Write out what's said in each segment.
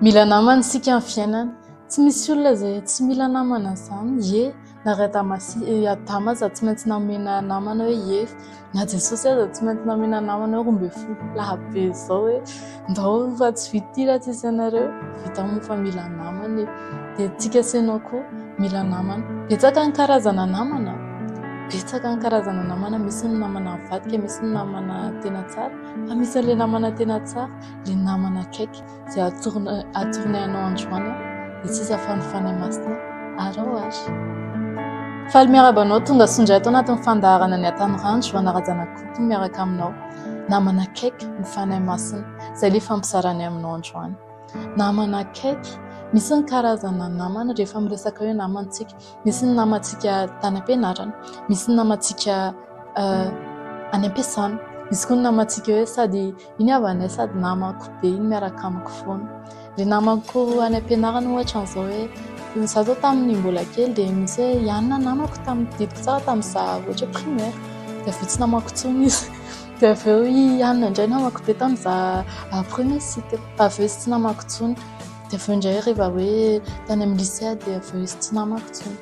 Mila namana isika amin'ny fiainana. Tsy misy olona izay tsy mila namana izany. Ie na ry Adama sy ry Adama aza tsy maintsy namena namana hoe hery, na Jesosy aza tsy maintsy namena namana hoe roa ambin'ny folo lahy be izao hoe ndao fa tsy vita ity raha tsy misy anareo. Vita moa fa mila namana e! Dia antsika sy ianao koa mila namana. Betsaka ny karazana namana, betsaka ny karazana namana. Misy ny namana mivadika, misy ny namana tena tsara, fa misy an'ilay namana tena tsara. le namana akaiky izay atorina atorina anao androany dia tsy iza fa ny Fanahy Masina ary ao ary. Faly miaraba anao tonga sondra ato anatin'ny fandaharana ny Atanirandro anarajana kokoa miaraka aminao namana akaiky ny Fanahy Masina izay le fampizarany aminao androany. Namana akaiky misy ny karazana namana rehefa miresaka hoe namantsika misy ny namantsika tany am-pianarana misy ny namantsika any am-piasana misy koa ny namantsika hoe sady Iny havanay sady namako be iny miaraka amiko foana. Ry namako any am-pianarana ohatra an'izao hoe izaho izao tamin'ny mbola kely dia misy hoe ihany ny namako tamin'ny tadidiko tsara tamin'izaho ohatra hoe primaire dia avy eo tsy namako intsony izy. Dia avy eo ihany indray namako be tamin'izaho premier cycle dia avy eo izy tsy namako intsony. Dia avy eo indray rehefa hoe tany amin'ny lycée aho dia avy eo izy tsy namako intsony.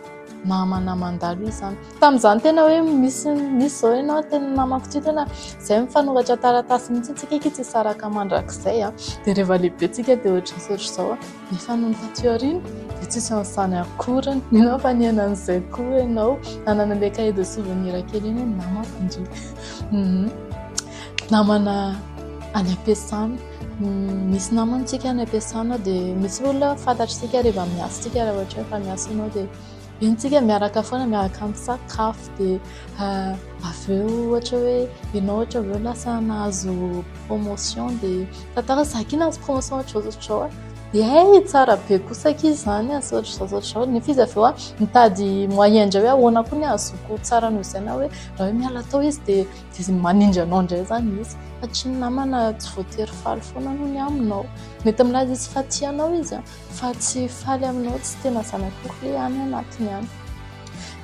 Namana mandalo izy izany. Tamin'izany tena hoe misy misy zao ianao tena namako ty tena zay mifanoratra taratasy mihitsy antsika aky tsy hisaraka mandrakizay a dia rehefa lehibe tsika dia ohatr'izao ohatr'izao a nefa nony taty aoriana dia tsisy an'izany akory mino aho fa nihaino an'izay koa ianao nanana le cahier de souvenir kely iny ny namako ndry namana any am-piasana misy namantsika any am-piasana dia misy olona fantatr'isika rehefa miasa isika raha ohatra hoe efa miasa ianao dia Entsika miaraka foana miaraka misakafo dia ah, avy eo ohatra hoe ianao ohatra avy eo lasa nahazo promotion dia tantara zaky nahazo promotion ohatra izao ohatra izao dia hey tsara be kosa aky izany asa ohatra izao ohatra izao nefa izy avy eo mitady moyen indray hoe ahoana koa ny azoko tsara noho izay na hoe raha hoe miala tao izy dia dia manindry anao indray izany izy fa tsy ny namana tsy voatery faly foana noho ny aminao mety milaza izy fa tianao izy Fa tsy faly aminao tsy tena zanak'akoho ve any anatiny any?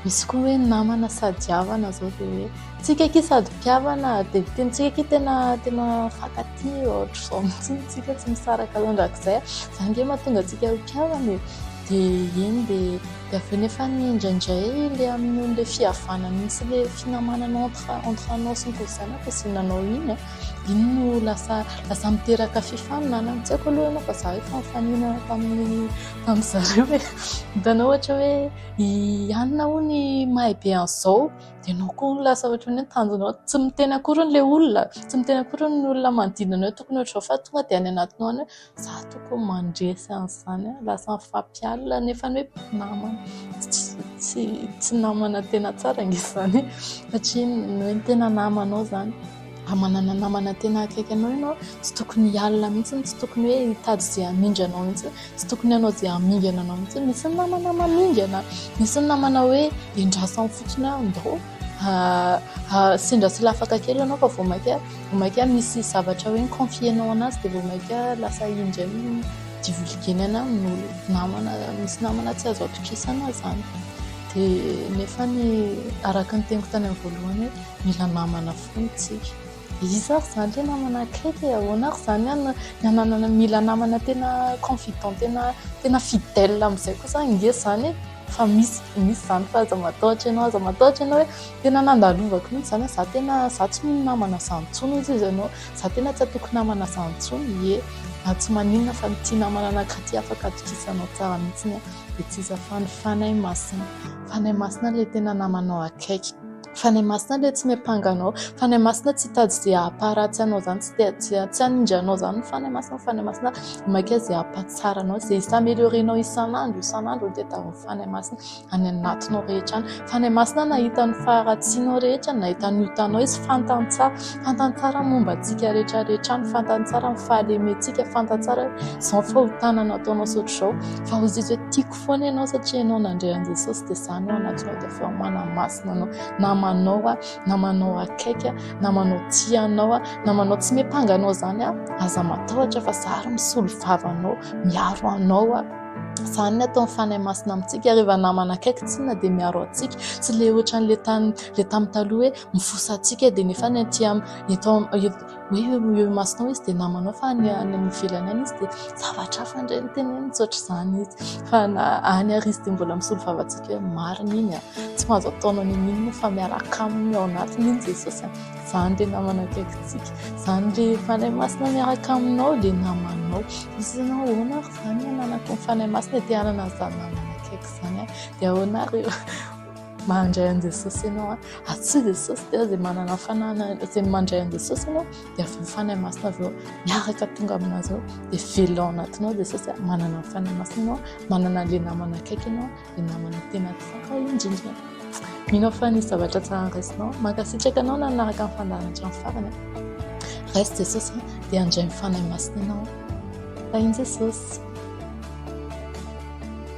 Misy koa hoe namana sady havana zao dia hoe tsika akia sady mpihavana dia ny tenintsika akia tena tena mifankatia ohatr'izao mihitsy ny tsika tsy misaraka mandrakizay. Izany ange mahatonga antsika ho mpihavana e. Dia eny dia dia avy eo nefa ny indraindray ilay amin'ny noho ilay fihavanana sy ilay finamanana entre entre anao sy ny zanako dia izay nanao iny an. Iny no lasa lasa miteraka fifaninanana. Tsy haiko aloha ianao fa izaho efa nifaninana tamin'ny tamin'ny zareo e. Hitanao ohatra hoe i Anona hono mahay be an'izao dia ianao koa hono lasa ohatran'ny hoe tanjonao tsy miteny akory hono ilay olona, tsy miteny akory hono ny olona manodidina anao tokony ho ohatr'izao fa tonga dia any anatinao any hoe. Za tokony mandresy an'izany a, lasa mifampialona nefa hoe mpinamana, tsy namana tena tsara nge izany satria hoe ny tena namanao izany raha manana namana tena akaiky anao ianao tsy tokony hialona mihitsy, tsy tokony hoe hitady izay hamindra anao mihitsy, tsy tokony hanao izay hamingana anao mihitsy, misy ny namana mamingana, misy ny namana hoe endrasany fotsiny hoe andao sendra sy lafaka kely ianao fa vao mainka. Vao mainka misy zavatra hoe mi-confier-nao an'azy dia vao mainka lasa iny indray no divulguer-na amin'olona, namana, misy namana tsy azo atokisana izany. Dia nefa ny araka ny teniko tany amin'ny voalohany hoe mila namana foana isika. Iza ary izany ilay namana akaiky e? Ahoana ary izany ny hananana, mila namana tena confident, tena fidèle amin'izay kosa ange izany e? Fa misy misy izany fa aza matahotra ianao, aza matahotra ianao hoe tena nandalovako mihitsy izany, za tena za tsy mino namana zany intsony hoy izy ianao, za tena tsy hatoky namana zany intsony, ie na tsy maninona fa ny tia namana nankaty afaka atokisanao tsara mihitsy, dia tsy iza fa ny Fanahy Masina, Fanahy Masina ilay tena namanao akaiky. Fanahy Masina ilay tsy miampanga anao. Fanahy Masina tsy hitady izay hampaharatsy anao izany, tsy tsy hanindry anao izany ny Fanahy Masina. Fanahy Masina maika izay hampahatsara anao, izay hi-s'améliorer anao isan'andro isan'andro no tadiavin'ny Fanahy Masina any anatinao rehetra any. Fanahy Masina nahita ny faharatsianao rehetra, nahita ny otanao izy, fantany tsara, fantany tsara ny momba antsika rehetra rehetra any, fantany tsara ny fahalementsika, fantany tsara hoe izao ny fahotana nataonao sy ohatr'izao fa hoy izy hoe tiako. foana ianao satria ianao nandre an'i Jesosy dia izany no anatsoina dia avy ao manamasina anao namanao aho namanao akaiky aho namanao tia anao aho namanao tsy mipanga anao izany aho aza matahotra fa za ary misolo vavanao miaro anao aho izany ny ataon'ny fanahy masina amintsika rehefa namana akaiky tsinona dia miaro antsika tsy le ohatran'le tany le tamin'ny taloha hoe mifosa antsika dia nefa ny aty amin'ny eto hoe eo imasonao izy dia namanao fa any ivelany any izy dia zavatra hafa indray ny teneny misaotra izany izy fa na any ary izy dia mbola misolo vava antsika hoe marina iny a, tsy mahazo ataonao ny an'inona fa miaraka aminy ao anatiny iny Jesosy a, izany ilay namana akaikintsika, izany ilay Fanahy Masina miaraka aminao ilay namanao, misy izany hoe ahoana ary izany ny ananako ny Fanahy Masina dia te hanana an'izany namana akaiky izany aho dia ahoana ary eo. Mandray an'i Jesosy ianao an! Asio Jesosy dia izay manana fananana, izay mandray an'i Jesosy ianao dia avy ny Fanahy Masina avy eo miaraka tonga amin'azy ao dia velona ao anatinao Jesosy an! Manana ny Fanahy Masina ianao, manana ilay namana akaiky ianao, ilay namana tena tsara indrindra. Mino fa nisy zavatra tsara raisinao. Mankasitraka anao nanaraka ny fandaharana hatramin'ny farany. Raiso Jesosy dia handray ny Fanahy Masina ianao. Tahin'i Jesosy.